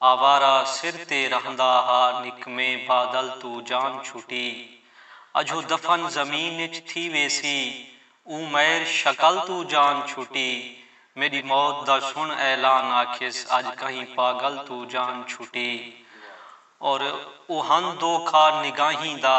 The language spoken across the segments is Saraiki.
آوارہ سر تے رہندا ہا نکمے بادل توں جان چھٹی اجھو دفن زمین اچ تھی ویسی اوں مئر شکل توں جان چھٹی میڈی موت دا سن اعلان آکھیس اج کہیں پاگل توں جان چھٹی اور اوہن دو کھا نگاہیں دا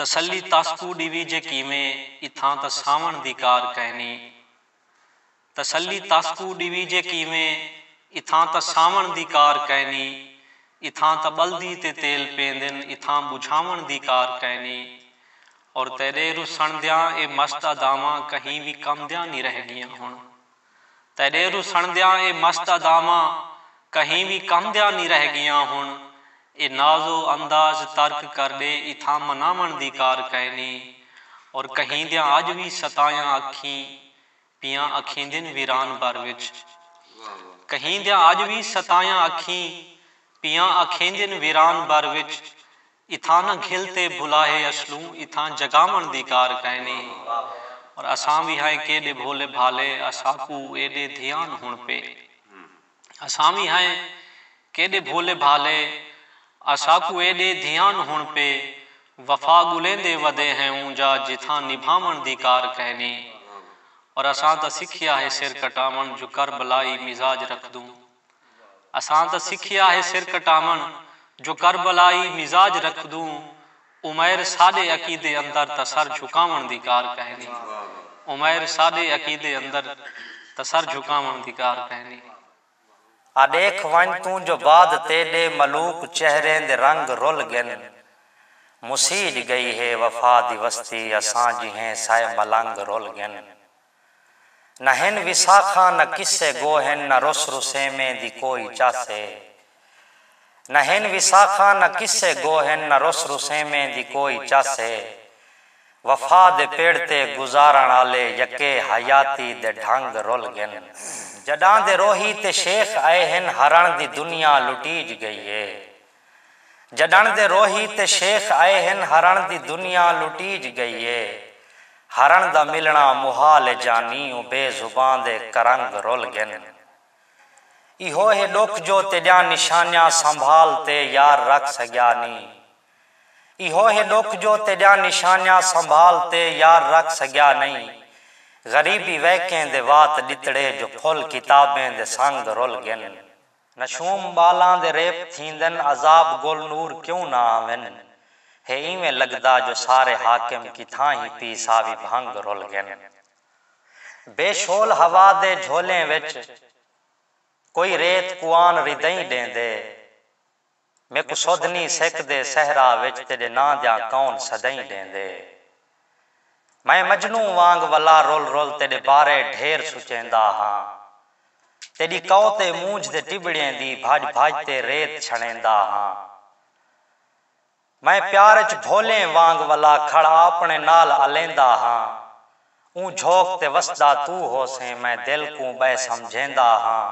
تسلی تاسکوں ڈیوی جے کیویں اتھاں تاں ساوݨ دی کار کائنی۔ تسلی تاسکوں ڈیوی جے کیویں اتھاں تاں ساوݨ دی کار کائنی۔ اتھاں تاں ٻلدی تے تیل پیندن اتھاں ٻجھاوݨ دی کار کائنی۔ اور تیݙے رسݨ دیاں اے مست اداواں کہیں وی کم دیاں نی رہ ڳیاں ہݨ۔ تیݙے رسݨدیاں اے مست اداواں کہیں وی کم دیاں نی رہ ڳیاں ہݨ اے ناز و انداز ترک کر ݙے اتھاں مناوݨ دی کار کائنی اور کہیں دیاں اڄ وی ستایاں اکھیں پیاں اکھیندن ویران بھر وچ کہیں دیاں اڄ وی ستایاں اکھیں پیاں اکھیندن ویران بھر وچ اتھاں نہ گھل تے بھلاہے اسلوں اتھاں جگاوݨ دی کار کائنی اور اساں وی ہائیں کیڈے بھولے بھالے اساکوں ایڈے دھیان ہن پے اساں وی ہائیں کیڈے بھولے بھالے اساکوں ایڈے دھیان ہن پے وفا گلیندے ودے ہیں اونجا جتھاں نبھاوݨ دی کار کائنی اور اساں تاں سکھیا ہے سر کٹاوݨ جو کربلائی مزاج رکھدوں۔ اساں تاں سکھیا ہے سر کٹاوݨ جو کربلائی مزاج رکھدوں عمیر ساݙے عقیدے اندر تاں سر جھکاوݨ دی کار کہنی عمیر ساݙے عقیدے اندر تاں سر جھکاوݨ دی کار کہنی۔ آ ݙیکھ ونڄ توں جو بعد تیݙے ملوک چہریں دے رنگ رل ڳن مسیج ڳئی ہے وفا دی وستی اساں جیہیں سائے ملنگ رل ڳن۔ نہ ہن وساخاں نہ قصے گو ہن نہ رس رسیمیں دی کوئی چس اے نہ ہن وساخاں نہ قصے گو ہن نہ رس رسیمیں دی کوئی چس اے وفا دے پڑ تے گزارݨ آلے یکے حیاتی دے ڈھنگ رل گن۔ جݙاں دے روہی تے شیخ آئے ہن ہرݨ دی دنیا لٹیج ڳئی اے۔ جڈݨ دے روہی تے شیخ آئے ہن ہرݨ دی دنیا لٹیج گئی اے ہرݨ دا ملݨا محال اے جانی او بے زباں دے کرنگ رل گن ایہو ہے ڈکھ جو تیڈیاں نشانیاں سنبھال تے یار رکھ سگیا نی ایہو ہے ڈکھ جو تیڈیاں نشانیاں سنبھال تے یار رکھ سگیا نی غریبی ویکیں دے وات ڈتڑے جو پھل کتابیں دے سنگ رل گن۔ نشوم ٻالاں دے ریپ تھیندن عذاب گل نور کیوں نہ آون ہے ایویں لگدا جو سارے حاکم کتھاں ہی پی ساوی بھنگ رل گن بے شول ہوا دے جھولیں وچ کوئی ریت کوان ردئیں ڈیندے۔ میکوں سدھ نی سیکدے صحرا وچ تیڈے ناں دیاں کون صدائیں ڈیندے میں مجنوں وانگ ولا رول رول تیڈے بارے ڈھیر سچیندا ہاں تیڈی کؤ تے مونجھ دے ٹبڑیں دی بھاج بھاج تے ریت چھنڑیندا ہاں میں پیار اچ بھولیں وانگ ولا کھڑ آپنڑے نال الیندا ہاں اوں جھوک تے وسدا توں ہوسیں میں دل کوں بئے سمجھیندا ہاں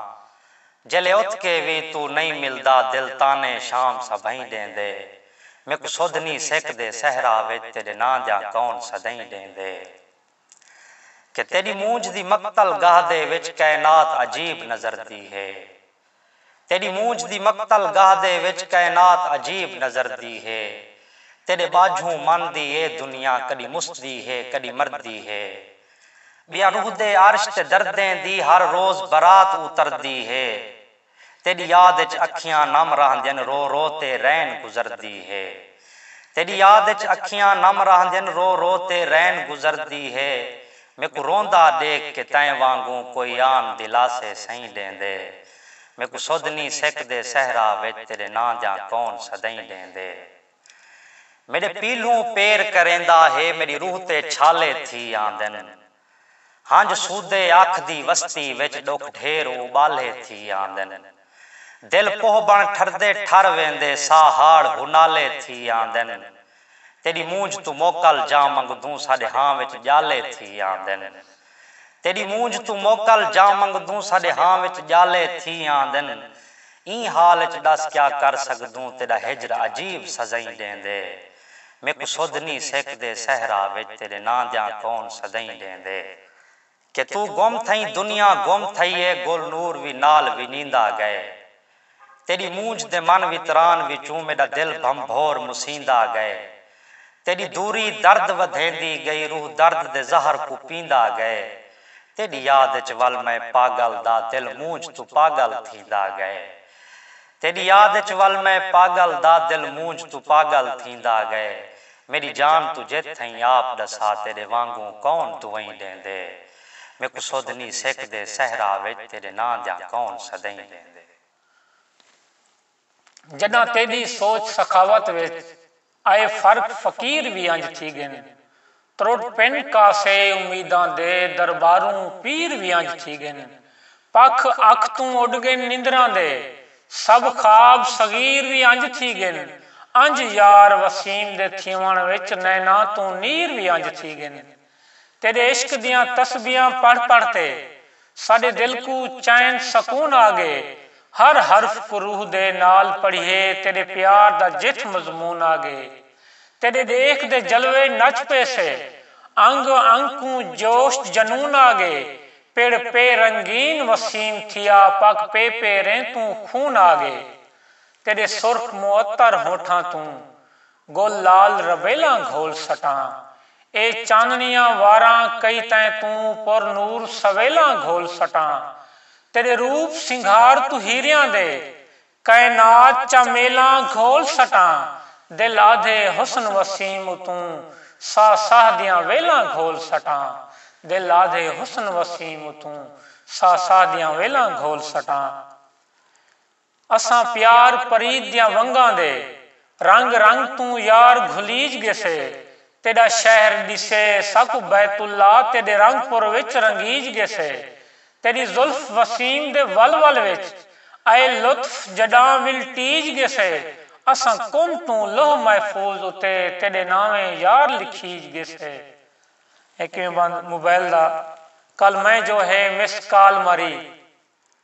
جیلے اتھ کے وی توں نئیں ملدا دل طعنے شام سبھئیں ڈیندے میکوں سدھ نی سک دے صحرا وچ تیڈے ناں دیاں کون سدھئیں ڈیندے۔ کہ تیݙی مونجھ دی مقتل گاہ دے وچ کائنات عجیب نظر دی ہے تیݙی مونجھ دی مقتل گاہ دے وچ کائنات عجیب نظر دی ہے تیݙے ٻاجھوں من دی اے دنیا کݙی مسدی ہے کݙی مردی ہے ٻیا روح دے عرش تے دردیں دی ہر روز برات اتردی ہے۔ تیڈی یاد اچ اکھیاں نم راہندین رو رو تے رین گزردی ہے تیڈی یاد اچ اکھیاں نم راہندین رو رو تے رین گزردی ہے میکوں روندا ڈیکھ کے تیں وانگوں کوئی آن دلاسے سئیں ڈیندے میکوں سدھ نی سک دے صحرا وچ تیڈے ناں دیاں کون سدئیں ڈیندے میڈے پیلھوں پیر کریندا ہے میڈی روح تے چھالے تھی آندن۔ ہنج سودھے اکھ دی وستی وچ ݙکھ ڈھیر اٻالھے تھی آندن۔ دل کوہ بݨ ٹھردے ٹھر ویندے ساہ ہاڑ ہنالے تھی آندن۔ تیݙی مونجھ توں موکل جاں منگدوں ساݙے ہاں وچ ڄالے تھی آندن۔ تیݙی مونجھ توں موکل جاں منگدوں ساݙے ہاں وچ ڄالے تھی آندن۔ ایں حال اچ ݙس کیا کر سڳدوں تیݙا ہجر عجیب سزئیں ݙیندے۔ میکوں سدھ نی سیکدے صحرا وچ تیڈے ناں دیاں کون سدائیں ڈیندے کہ توں گم تھئیں دنیا گم تھئی اے گل نور وی نال ونیندا گئے تیڈی مونجھ دے من وتران وچوں میڈا دل بھنبھور مسیندا گئے تیڈی دوری درد ودھیندی گئی روح درد دے زہر کوں پیندا گئے تیڈی یاد اچ ول میں پاگل دا دل مونجھ توں پاگل تھیندا گئے۔ تیݙی یاد اچ ول میں پاڳل دا دل مونجھ توں پاڳل تھیندا ڳئے میݙی جان توں جت تھئیں آپ ݙسا تیݙے وانگوں کون دعئیں ݙیندے میکوں سدھ نی سیکدے صحرا وچ تیݙے ناں دیاں کون صدئیں ݙیندے۔ جݙاں تیݙی سوچ سخاوت وچ۔ اے فرق فقیر وی انج تھی گن۔ ترٹ پن کاسے امیداں دے درباروں پیر وی انج تھی گن۔ پکھ اکھ توں اڈ گن نندراں دے سب خواب صغیر وی انج تھی گن۔ انج یار وسیم دے تھیوݨ وچ نیناں توں نیر وی انج تھی گن۔ تیݙے عشق دیاں تسبیحاں پڑھ پڑھ تے ساݙے دل کوں چین سکون آ ڳئے ہر حرف کوں روح دے نال پڑھیے تیݙے پیار دا جتھ مضمون آ ڳئے تیݙے ݙیکھ دے جلوے نچ پیسے انگ انگ کوں جوش جنون آ ڳئے پڑھ پے رنگین وسیم تھیا پک پے پیریں توں خون آ ڳئے تیݙے سرخ معطر ہونٹھاں توں گل لال ربیلاں گھول سٹاں اے چاننڑیاں واراں کئی تیں توں پر نور سویلاں گھول سٹاں تیڈے روپ سنگھار توں ہیریاں دے کائنات چا میلاں گھول سٹاں دل آدھے حسن وسیم اتوں ساہ ساہ دیاں ویلاں گھول سٹاں دل آدھے حسن وسیم اتوں ساہ ساہ دیاں ویلاں گھول سٹاں۔ اساں پیار پریت دیاں ونگاں دے رنگ رنگ توں یار گھلیج گیسے تیڈا شہر ڈیسے ساکوں بیت اللہ تیڈے رنگ پر وچ رنگیج گیسے تیڈی زلف وسیم دے ول ول وچ اے لطف جڈاں ولٹیج گیسے اساں کن توں لوح محفوظ اتے تیڈے ناویں یار لکھیج گیسے۔ اے کیویں بند موبائل دا کل میں جو ہے مسڈ کال ماری۔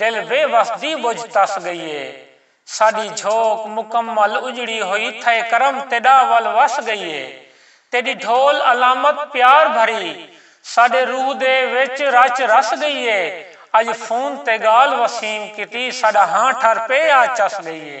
دل بے وس دی ٻجھ تس ڳئی اے۔ ساݙی جھوک مکمل اڄڑی ہوئی تھئے کرم تیݙا ول وس ڳئی اے۔ تیݙی ڈھول علامت پیار بھری ساݙے روح دے وچ رچ رس ڳئی اے۔ اڄ فون تے ڳالھ وسیم کیتی ساݙا ہاں ٹھر پے آ چس ڳئی اے۔